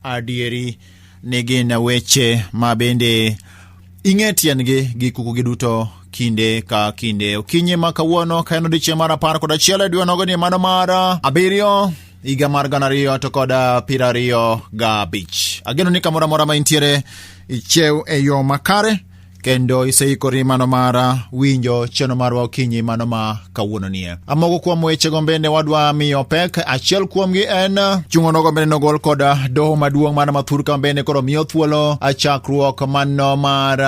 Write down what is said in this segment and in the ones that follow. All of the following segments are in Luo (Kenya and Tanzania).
adieri ni gin weche ma bende ing'e tiendgi gi kukugi duto kinde ka kinde okinyi ma kawuono ka en odiechieng' mar apar kod achiel e dwe nogo ni mano mar abiriyo higa mar gana ariyo to kod piero ariyo gabich ageno ni kamoro amora ma intiere ichiew e yo makare kendo iseikori mano mara winjo cheno marwa okinyi mano ma kawuono nie amoko kuom weche gombende wadwa miyo pek achiel kuomgi en chungono gombende nogol kod doho maduong' mano ma thurka mbende koro miyo thuolo achakruok mano mar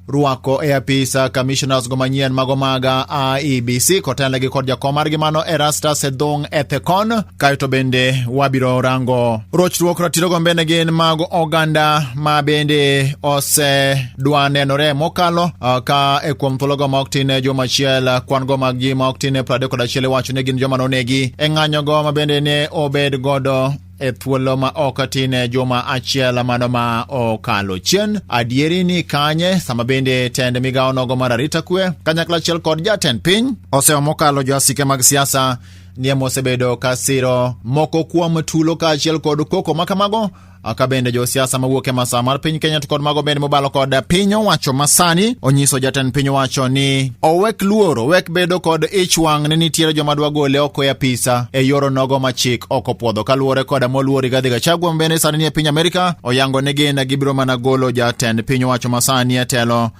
rwako e apisa commissioners go manyien mago maga IEBC kotelnegi kod jakom margi mano Erastus Edhong Ethekon kae to bende wabiro rango rochruok ratiro gombene gin mag oganda ma bende osedwa nenore mokalo ka e kuom thuologo ma ok tin e juma achiel kwan go mag ji ma ok tin e prade kod achiel iwacho ni gin joma nonegi e ng'anyogo ma bende ne obed godo e thuolo ma ok tin e juma achiel mano ma okalo chien adieri ni kanye sama bende tend migawo nogo mar arita kwe kanyakla achiel kod jatend piny osewa mokalo joasike mag siasa nie mosebedo ka siro moko kuom tulo kaachiel kod koko ma kamago aka bende josiasa mawuok e masawa mar piny Kenya to kod mago bende mobalo kod piny owacho masani onyiso jatend piny owacho ni owek luoro owek bedo kod ich wang' ni nitiere joma dwa gole oko e apisa e yoro nogo ma chik ok opwodho kaluwore kod moluor Rigathi Gachagua bende sani nie piny Amerika oyango ni gin gibiro mana golo jatend piny owacho masani e telo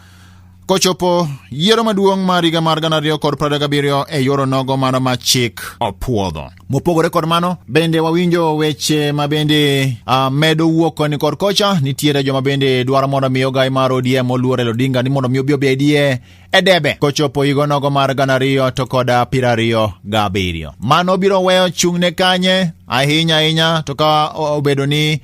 kochopo yiero maduong' mar higa mar gana ariyo kod piero gabiriyo e yor onogo mano ma chik opuodho. Mopogore kod mano, bende wawinjo weche ma bende uh, medo wuok koni kod kocha. Nitiere joma bende dwaro mondo mi ogai mar ODM oluor Raila Odinga ni mondo mi obi obedie e debe kochopo higa onogo mar gana ariyo to kod piero ariyo gabiriyo. Mano biro weyo chung'ne kanye ahinya ahinya to ka obedo ni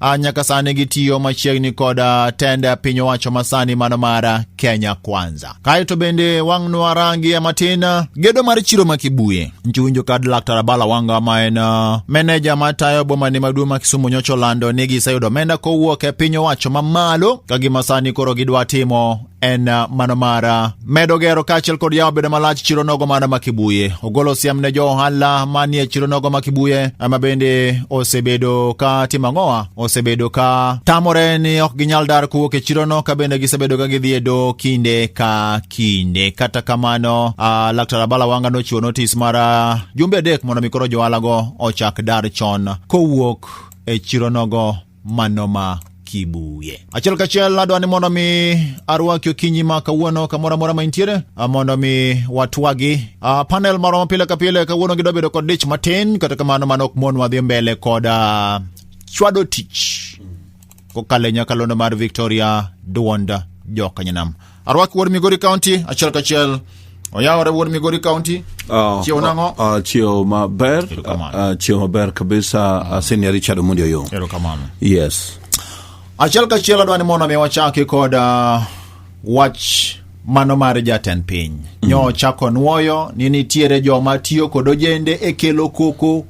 Ah, nyaka sani gitiyo machiegni kod ah, tend ah, piny owacho masani mano mar Kenya Kwanza. Kae to bende wang'nwa rangi matin gedo mar chiro ma Kibuye. Nchiwinjo kad Laktar Abala Wanga ma en meneja matayo bomani maduong' ma Kisumu nyocha olando ni giseyudo omenda kowuok e piny owacho mamalo ka gima sani koro gidwa timo en uh, mano mar uh, medo gero kaachiel kod yawo bedo malach chiro nogo mar Makibuye. Ogolo siem ne jo ohala manie chiro nogo Makibuye ma bende osebedo ka timo ang'owa, osebedo ka tamore ni ok ginyal dar kowuok e chirono ka bende gisebedo ka gidhi e do kinde ka kinde. Kata kamano, uh, Laktar Abala Wanga nochiwo notis mar uh, jumbe adek mondo mi koro jo ohalago ochak dar chon kowuok e chiro nogo manoma kibuye achiel kachiel adwa ni mondo mi arwaki okinyi ma kawuono kamoro amora ma intiere mondo mi watwagi uh, panel marwa mapile ka pile kawuono gidwa bedo kod dich matin kata kamano mano ok mon wadhi mbele kod uh, chwado tich kokalo e nyakalondo mar victoria duond jokanyanam Arwak wuod Migori County achiel kachiel. Oyawore wuod Migori County. Ah, Chiew nang'o? ah, ah, chiew maber Erokamano. Ah, ah, chiew maber kabisa Ah, senior richard omondi oyo Erokamano. yes Achiel kachiel adwa ni mondo mi wachaki kod uh, wach mano mar jatend piny. Nyo chako nwoyo ni nitiere joma tiyo kod ojende e kelo koko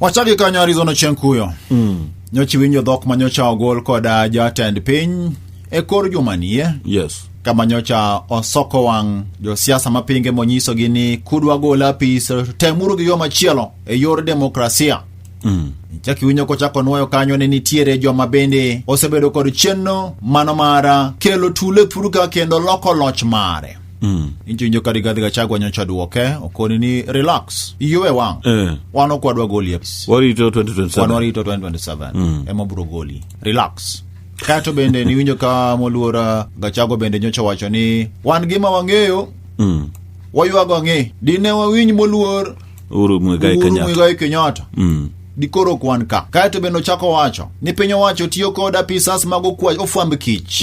Wachaki kanyo Arizona Chieng' Kuyo. Mm. Nyocha iwinjo dhok ma nyocha ogol kod ah, jatend piny e kor juma nie Yes. kama nyocha osoko wang' josiasa mapinge monyisogi ni kudwa gol apis to temuru gi yo machielo e yor demokrasia. Mm. Chak iwinjo kochako nwoyo kanyo ni nitiere joma bende osebedo kod chenro mano mar ah, kelo tule puruka kendo loko loch mare. Mm. injinjo ka rigathi gachagua nyocha duoke okoni ni relax iyuwe wang Eh. wan ok wadwa goli apis Warito wan 2027. warito 2027 ema bro goli relax kato bende niwinjo ka moluora gachagua bende nyocha wacho ni wan gima wang'eyo Mm. waywago ang'e dine wawinj moluor Uhuru Muigai Uhuru Kenyatta. Muigai Kenyatta Mm. dikoro ok wan ka kaeto bende ochako wacho ni piny owacho tiyo kod apisas mag okwa- ofwamb kich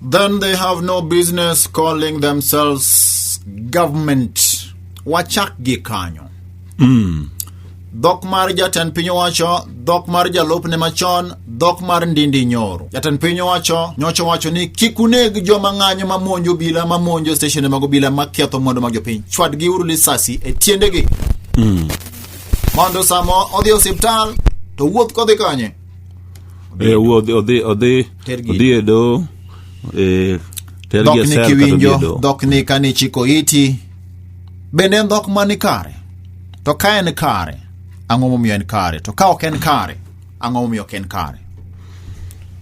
Then they have no business calling themselves government. Wachak gi kanyo. Mm. dhok mar jatend piny owacho dhok mar jalupne machon dhok mar ndindi nyoro jatend piny owacho nyocha owacho ni kik uneg joma ng'anyo mamonjo obila mamonjo steshende mag obila maketho mwandu mag jopiny chwadgi uru lisasi e tiendegi mondo samo odhi e osiptal to wuoth kodhi kanye e wuo odhi odhi odhi Tergi. odhi e doho e tergi dhok e ni sel kata odhi e kiwinjo doho dhok ni ka ni chiko iti bende en dhok mani kare to ka en kare ang'o momiyo en kare to ka ok en kare ang'o momiyo ok en kare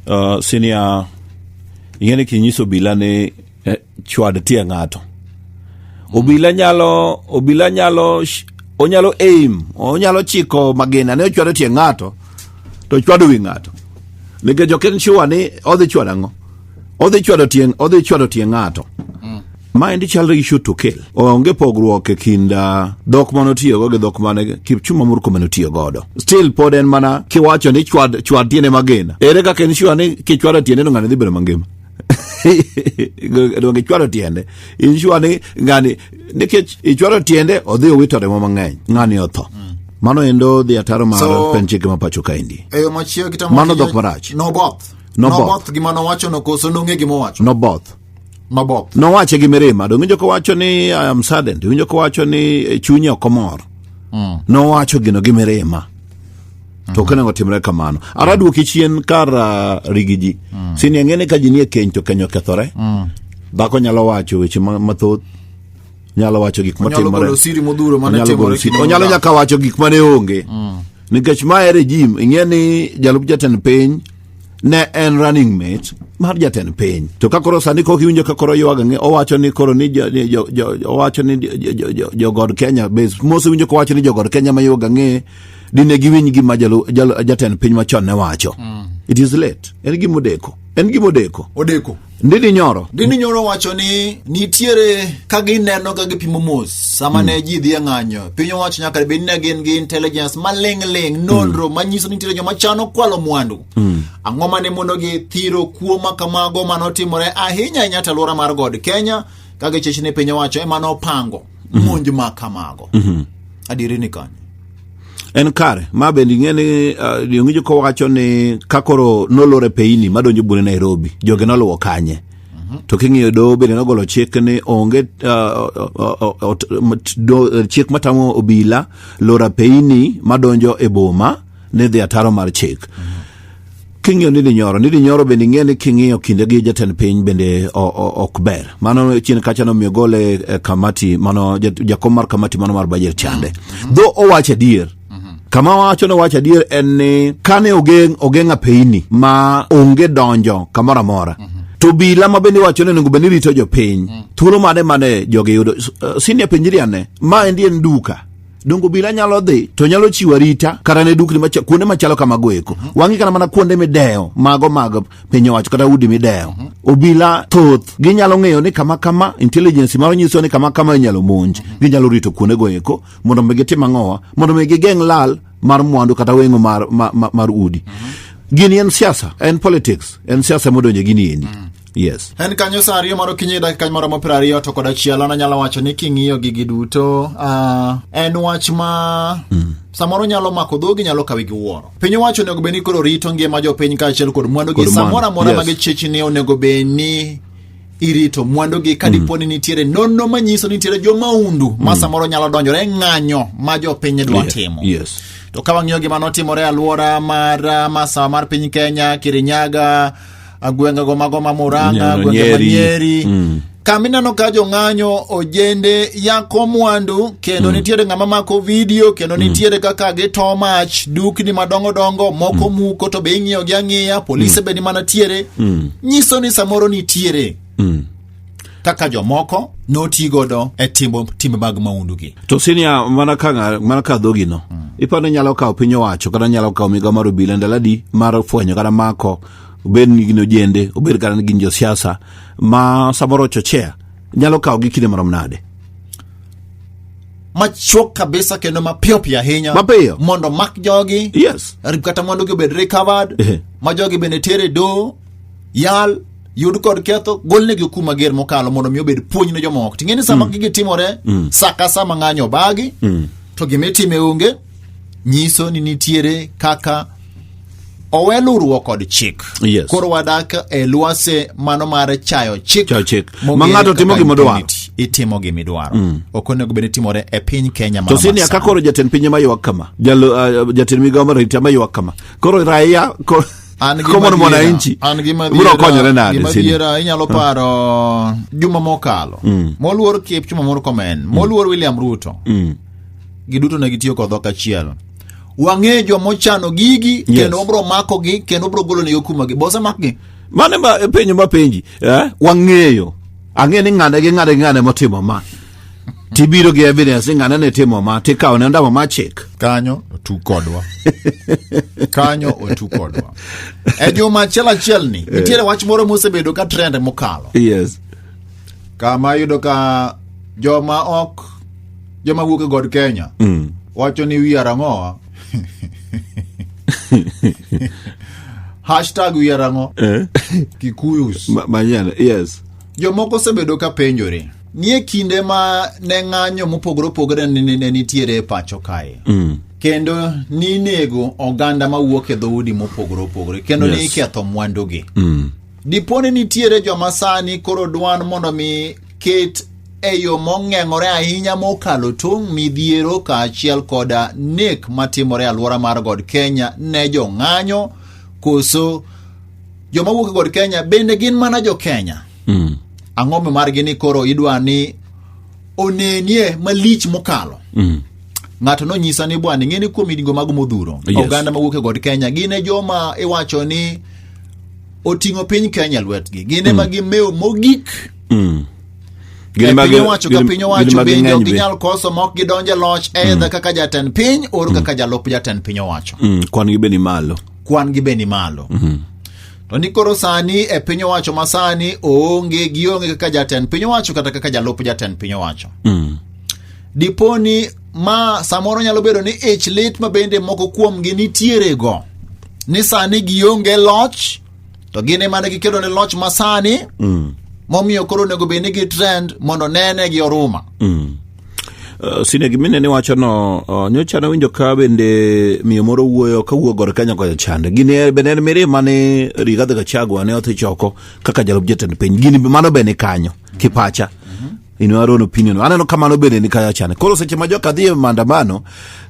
Ah, sinia ing'e ni kinyiso obila ni chwad tie ng'ato obila nyalo obila nyalo sh- onyalo aim onyalo chiko magina ne ochwado tie ng'ato to chwado wi ng'ato nikech ok en sure ni odhi chwado ang'o odhi chwado tie odhi chwado tie ng'ato ma endi chalo gi shoot to kill onge pogruok e kind ah, dhok mane otiyogo gi dhok mane kipchuma murko mane otiyo godo still pod en mana kiwacho ni chwad chwad tiende magina ere kaka en sure ni kichwado tiende no ng'ani dhi bedo mangima donge ichwalo tiende insure ni ngani nikech ichwalo tiende odhi owito remo mang'eny ng'ani otho mano endo dhi ataro mar So- pen chike ma pacho kaendi e yo machielo kita Mano dhok marach. noboth Noboth. noboth gima nowachono koso nong'e gima owacho noboth noboth nowache gi mirima donge winjo kowacho ni I am saddened winjo kowacho ni eh, chunye ok omor nowacho gino gi mirima to kane otimre kamano ara adwoki chien kar ah, rigi ji sini ang'ene ka ji nie keny to keny okethore dhako nyalo wacho weche ma- mathoth nyalo wacho gik Onyalo matimore golo siri modhuro mane Onyalo timore golo siri. kinde onyalo mokalo. nyaka wacho gik mane onge nikech ma e regime ing'e ni jalup jatend piny ne en running mate mar jatend piny to ka koro sani kok iwinjo ka koro ywaga ng'e owacho ni koro ni jo- ni jo- jo- owacho ni jo- jo- jo- jo- jogod kenya bes mose winjo kowacho ni jogod kenya ma ywaga ng'e dine giwinj gima jalu- jalu- jatend piny machon ne wacho it is late en gima odeko en gima odeko odeko ndini nyoro gini nyoro wacho ni nitiere ka gineno ka gipimo mos sama ne ji dhi e ng'anyo piny owacho nyaka bed ni gin gi intelligence maling'ling nonro manyiso ni nitiere joma chano kwalo mwandu ang'o mane mondo githiro kuo ma kamago mane otimore ahinya ahinya to alwora mar god kenya ka gichich ni piny owacho ema nopango monj ma kamago adieri ni kanyo en kare ma bende ing'e ni uh, jong'injo kowacho ni ka koro nolor e peyini madonjo bune nairobi joge noluwo kanye to king'iyo doho bende nogolo chik ni onge uh, uh, uh, ot- mat- do- chik matamo obila loro apeyini madonjo e boma ni dhi ataro mar chik King'iyo ni dinyoro, ni dinyoro bende ing'e ni king'iyo kinde gi jatend piny bende o- o- ok ber. Mano chien kacha nomiyo gole e kamati mano jat- jakom mar kamati mano mar bajet chande. Dho owacho adier. Kama wacho ni owacho adier en ni kane ogeng' ogeng' apeini ma onge donjo kamoro amora. To bila ma bende iwacho ni onego bed ni rito jopiny. Thuolo mane mane jogi yudo? S- eh, Senior penjri ane. Ma endi en duka. dongo bila nyalo dhi to nyalo chiwo arita kata ne dukni macha, kuonde machalo kamago eko mm -hmm. wang'i kana mana kuonde midewo mago mag piny owacho kata udi midewo mm -hmm. obila thoth ginyalo ng'eyo ni kama kama intelligence maro nyiso ni kama kama inyalo monj mm -hmm. ginyalo rito kuonde go eko mondo mi gitim ang'owa mondo mi gigeng' lal mar mwandu kata weng'o mar, mar, mar, mar udi mm -hmm. gini en siasa en politics en siasa modonje gini endi mm -hmm. Yes. En kanyo sa ariyo mar okinyi dakika moro mo ariyo to kod achiel an anyalo wacho ni king'iyo gigi duto uh, en wach ma mm. samoro nyalo mako dhogi nyalo kawi gi wuoro piny owacho onego bed ni koro rito ngima jopiny kaachiel kod mwandugi samoro amora yes. ma gichichni onego bed ni irito mwandugi ka mm. dipo ni nitiere nonno manyiso nitiere jomaundu mm. ma samoro nyalo donjore e ng'anyo ma jopiny dwa yeah. timo yes. to ka wang'iyo gima notimore e alwora mar uh, masawa mar piny kenya kirinyaga agwenge go mago ma muranga Nyano, agwenge ma Nyeri. nyeri Mm. kama ineno ka jong'anyo ojende yako mwandu kendo nitiere ng'ama mako vidio kendo nitiere kaka gito mach dukni madongo dongo moko muko to be ing'iyogi ang'iya polise be ni mana tiere nyiso ni samoro nitiere Mm. kaka jomoko noti godo e timo timbe mag maundugi to sinia mana ka ng'a- mana ka dhogino iparo ni nyalo kawo piny owacho kata nyalo kawo migawo mar obila ndalo adi mar fwenyo kata mako obed ni gin ojende obed kata ni gin josiasa ma samoro chochea nyalo kawo gi kinde marom nade machuok kabisa kendo mapiyo piyo ahinya Mapiyo. mondo omak jogi yes rip kata mondo gibed recovered Ehe. ma jogi bende tere do yal yud kod ketho golnegi okum mager mokalo mondo mi obed puonj ne jomoko ting'e ni sama gigi timore sa ka sa ma ng'anyo obagi to gima itime onge nyiso ni nitiere kaka owe luruok kod chik Yes. koro wadak e lwase mano mar chayo chik Chayo chik. mong'ere Ma ng'ato timo kaka gima odwaro. impunity. itimo gima idwaro ok onego bed ni timore e piny kenya to mano sini masani. aka koro jatend pinye maywak kama Jalo, uh, jatend migawo mar arita maywak kama koro raia ko- an gi common madiera- mwananchi an gi madiera- biro konyore gi nade sini madiera inyalo paro juma mokalo moluor kipchuma murkomen moluor william ruto giduto ne gitiyo kod dhok achiel wang'e joma ochano gigi Yes. kendo wabro makogi kendo wabro golo negi okumagi bose makgi mane ma penjo ma penji eh? wang'eyo ang'e ni ng'ane gi ng'ane gi ng'ane motimo ma tibiro gi evidence ni ng'ane ne timo ma tikawo ne ondamo ma chik kanyo otu kodwa kanyo otu kodwa e juma achiel achiel ni nitiere wach moro mosebedo ka trend mokalo yes kama yudo ka joma ok joma wuok e god kenya Mm. wacho ni wiya rang'owa hashtag wiya rang'o Eh? kikuyus Ma- Manyana, yes. jomoko osebedo ka penjore nie kinde ma ne ng'anyo mopogore opogore ne- ne ne nitiere e pacho kae Mm. kendo ninego oganda mawuok e dhoudi mopogore opogore kendo Yes. niketho mwandugi Mm. dipo ni nitiere joma sani koro dwan mondo mi ket e yo mong'eng'ore ahinya mokalo tong' midhiero kaachiel koda nek matimore e alwora mar god kenya ne jong'anyo koso joma wuok e god kenya bende gin mana jo kenya Mm. ang'o mimargi ni koro idwa ni onenie malich mokalo Mm. ng'ato nonyisa ni bwana ing'eni kuom higni mago modhuro Yes. oganda mawuok e god kenya gin e joma iwacho ni oting'o piny Kenya lwetgi gin ema gimewo mogik Mm. Gin ema piny gi- owacho ka gin- piny gin owacho ema bende ging'eny ok be. ginyal koso ma ok gidonj e loch edha kaka jatend piny or kaka jalup jatend piny owacho Mm, kwan gi be ni malo kwan gi be ni malo to ni koro sani e piny owacho ma sani oonge gionge kaka jatend piny owacho kata kaka jalup jatend piny owacho Mm. diponi ma samoro nyalo bedo ni ich lit ma bende moko kuomgi nitierego ni sani gionge loch to gin ema ne gikedo ne loch ma sani Mm. momiyo koro onego bed ni gi trend mondo nene gi oruma Mm. Uh, sine gimine ni wachono uh, nyocha nawinjo ka bende miyo moro wuoyo ka wuo gor kenya kocha chande gini bende en mirima ni rigathi gachagua ne odhi choko kaka jalup jatend piny gini mano be ni kanyo kipacha in your own opinion aneno kamano bende ni kaya chane koro seche ma joka dhi e maandamano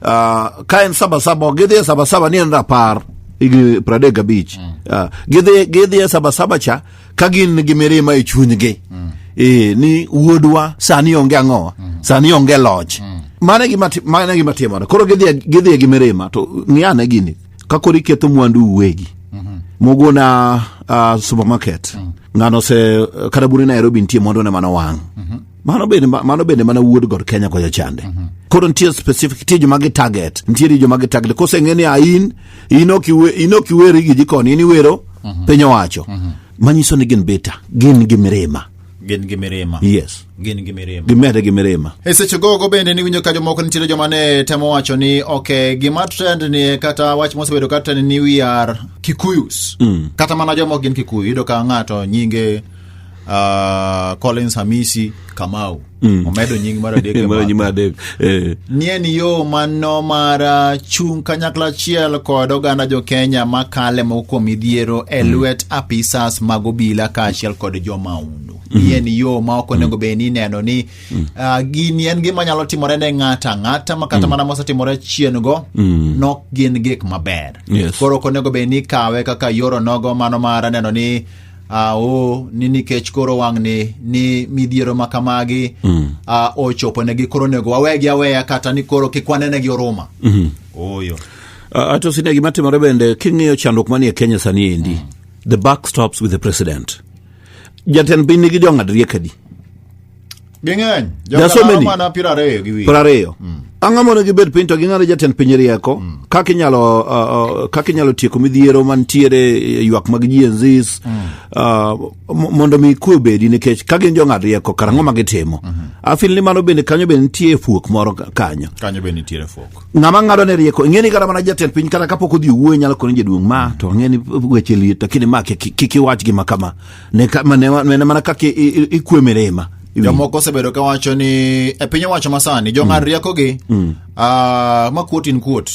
uh, ka en sabasaba ok gidhi e sabasaba ni en rapar higni pradek gabich mm. uh, gidhi gidhi e sabasaba cha ka gin gi mirima e chunygi mm. e, ni wuodwa sani onge ang'owa mm. sani onge loch mm. mane gima mane gima timore koro gidhi gidhi gi mirima to ng'iane gini kakoro iketho mwandu uwegi mogona uh, supermarket ng'ano se kata bune nairobi nitie mwandu ne mano wang' mano bende mano bende mana wuod god kenya kocha chande koro nitie specific nitie joma gi target nitie joma gi target koseng'e ni ain in ok iwe- in ok iweri gi jikoni in iwero piny owacho manyiso ni gin beta gin gi mirima gin gi mirima yes gin gi mirima gimede gi mirima e seche gogo bende niwinjo ka jomoko nitiere joma ne temo wacho ni ok gima trend ni kata wach mosebedo ka trend ni we are kikuyus mm. kata mana joma ok gin kikuyu yudo ka ng'ato nyinge uh, collins hamisi kamau mm. omedo nying mar adek Eh. nie ni yo mano mar ah, chung' kanyakla achiel kod oganda jokenya makale moko kuom midhiero e Mm. lwet apisas mag obila kaachiel kod jomaundu Mm. nie ni yo ma ok onego bed ni ineno ni Mm. ah, gini en gima nyalo timore ne ng'ato ang'ata ma kata Mm. mana mosetimore chien go Mm. nok gin gik maber Yes. koro ok onego bed ni ikawe kaka yoro nogo mano mar neno ni Ah, oh, ni nikech koro wang'ni ni midhiero ma kamagi mm. ah, ochoponegi koro onego wawegi aweya kata ni koro kik wanenegi oruma mm -hmm. oyo uh, ato sine gima timore bende king'iyo chandruok manie kenya sani endi mm. the back stops with the president jatend piny nigi jong'ad riekadi Ging'eny. There are so many. Mana piero ariyo gi wiye. Piero ariyo. Mm. Ang'o mondo gibed piny to ging'ado jatend piny rieko mm. kaka inyalo uh, uh, kaka inyalo tieko midhiero mantiere eh, ywak mag Gen Z mm. uh, mondo mi kwe obedi nikech ka gin jong'ad rieko kar ang'o ma gitimo. Mm-hmm. Afil ni mano bende kanyo bende nitie fuok moro kanyo. Kanyo bende nitie fuok. Ng'ama ng'ado ne rieko ing'e ni kata mana jatend piny kata kapok odhi wuoyo nyalo koni jaduong' ma to ang'e ni weche liet lakini ma kik iwach gima kama. ne ka- ma- ne wa- ne mana kaka i- i- ikwe mirima jomoko osebedo kawacho ni e piny owacho masani jong'ad riekogi ah, ma kuot in kuot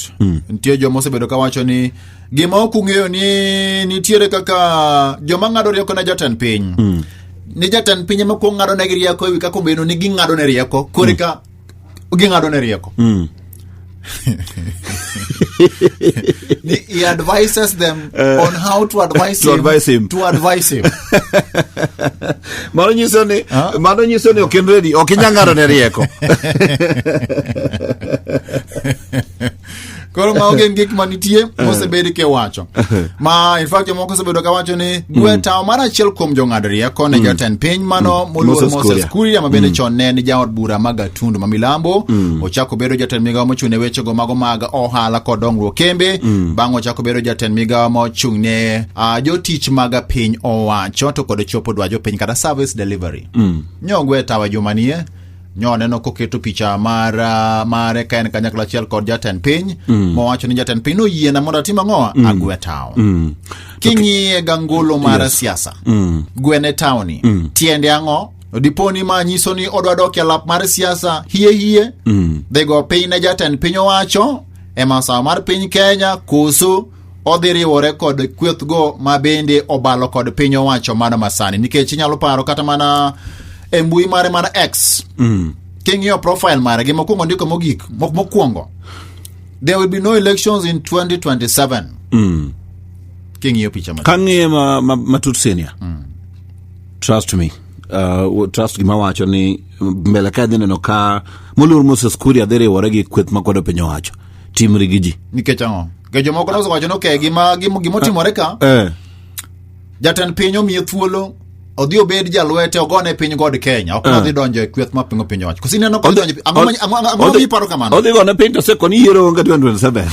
nitie joma osebedo kawacho ni gima ok ung'eyo ni nitiere kaka joma ng'ado rieko ne jatend piny ni jatend piny ema kuong ng'ado negi rieko ewi kaka ombeno ni ging'ado ne rieko koreka ging'ado ne rieko mm. he advises them uh, on how to advise, to him, advise him to advise him mano nyiso ni huh? mano nyiso ni ok in ready ok inyang'ado ne rieko koro ma onge ngik ma nitie mosebed kiwacho ma infact jomoko osebedo kawacho ni dwe tawo mar achiel kuom jong'ad rieko ne jatend piny mano moluor Moses moses Kuria. kuria ma bende chon ne en jaod bura ma gatundu ma milambo ochako bedo jatend migawo mochung' ne wechego mago mag ohala kod dongruok kembe bang' ochako bedo jatend migawo mochung' ne ah, jotich mag piny owacho to kod chopo dwajo piny kata service delivery nyogwe tawa jumanie nyo aneno koketo picha mar uh, mare ka en kanyakla achiel kod jatend piny mm. mowacho ni jatend piny noyiena mondo atim ang'owa mm. agwe tawo mm. king'iye okay. gangolo mar yes. siasa mm. gwene tawoni mm. tiende ang'o diponi ma nyiso ni odwa dok e lap mar siasa hie hie mm. dhigo piny ne jatend piny owacho e masawa mar piny kenya koso odhi riwore kod kwethgo ma bende obalo kod piny owacho mano masani nikech inyalo paro kata mana e mbui mare mar x mm. king'iyo profile mare gi mokwongo ndiko mogik mokwongo there will be no elections in 2027 mm. king'iyo picha matut. kang'iye ma, ma, matut senior mm. trust me uh, trust gima wacho ni mbele ka dhi neno ka moluor moses kuria dhi riwore gi kweth makwedo piny owacho timre gi ji nikech ang'o nikech jomoko noso wacho ni okay gima gima gima otimore ka eh. jatend piny omiye thuolo odhi obed jalwete ogone piny god kenya ok nodhi donjo e kweth ma pingo piny owacho kosineno kodhi donjo ang'o ma- ang'o- ang'o- ang'o miparo kamano odhi gone piny to seko ni yiero onge 2027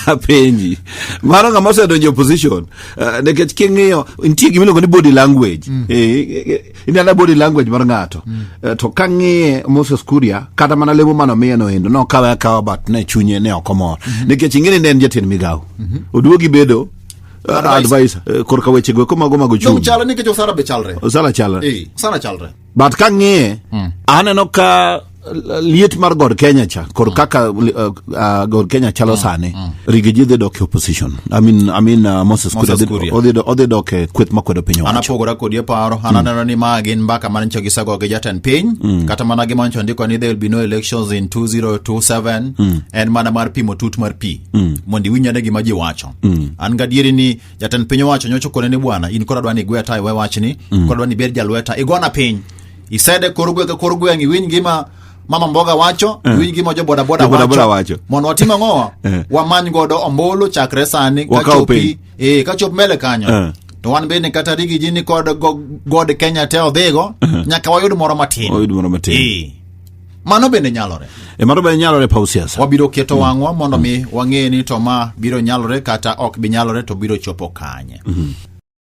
apenji mano ng'ama osedonjo e opposition eh, nikech king'iyo nitie gima iluongo ni body language Eh, eh, eh, inena body language mar ng'ato Eh, to ka ng'iye moses kuria kata mana lemo mano miye no endo nokawe akawa but ne chunye ne ok omor nikech ing'eni ne en jatend migawo oduogi bedo eh, Advisor. advisor eh, korka weche go komago mago chung chalo nikech osara be chalre osala chala Eh, osara chalre but ka ng'iye aneno ka liet mar god Kenya cha kod mm. kaka uh, uh, god Kenya chalo mm. sani mm. Rigiji dhi dok e opposition I mean, I mean, uh, Moses Kuria odhi dok e kweth makwedo piny owacho anapogora kodi e paro mm. ananeno ni ma gin mbaka mane nyicho gisago gi jatend piny mm. kata mana gima nyicho ndiko ni there will be no elections in 2027 mm. en mana mar pimo tut mar pi mm. mondo iwinj ane gima ji wacho mm. an gadieri ni jatend piny owacho nyocho kone ni bwana in koro adwa ni igwe tayo we wachni mm. koro adwa ni ibed jalweta igona piny isede kor gweng' ka kor gweng' iwinj gima mama mboga wacho Eh. iwinj gima jo bodaboda Jo-bodaboda wacho. wacho mondo watim ang'owa Eh. wamany godo ombulu chakre sani ka Wakaw chopi piny. eh, ka chop mbele kanyo Eh. to wan bende kata rigi ji ni kod go- god kenya te odhigo nyaka wayud moro matin Wayud moro matin. Eh. mano bende nyalore E mano bende nyalore paw siasa. wabiro keto wang'wa mondo mi wang'e ni to ma biro nyalore kata ok bi nyalore to biro chopo kanye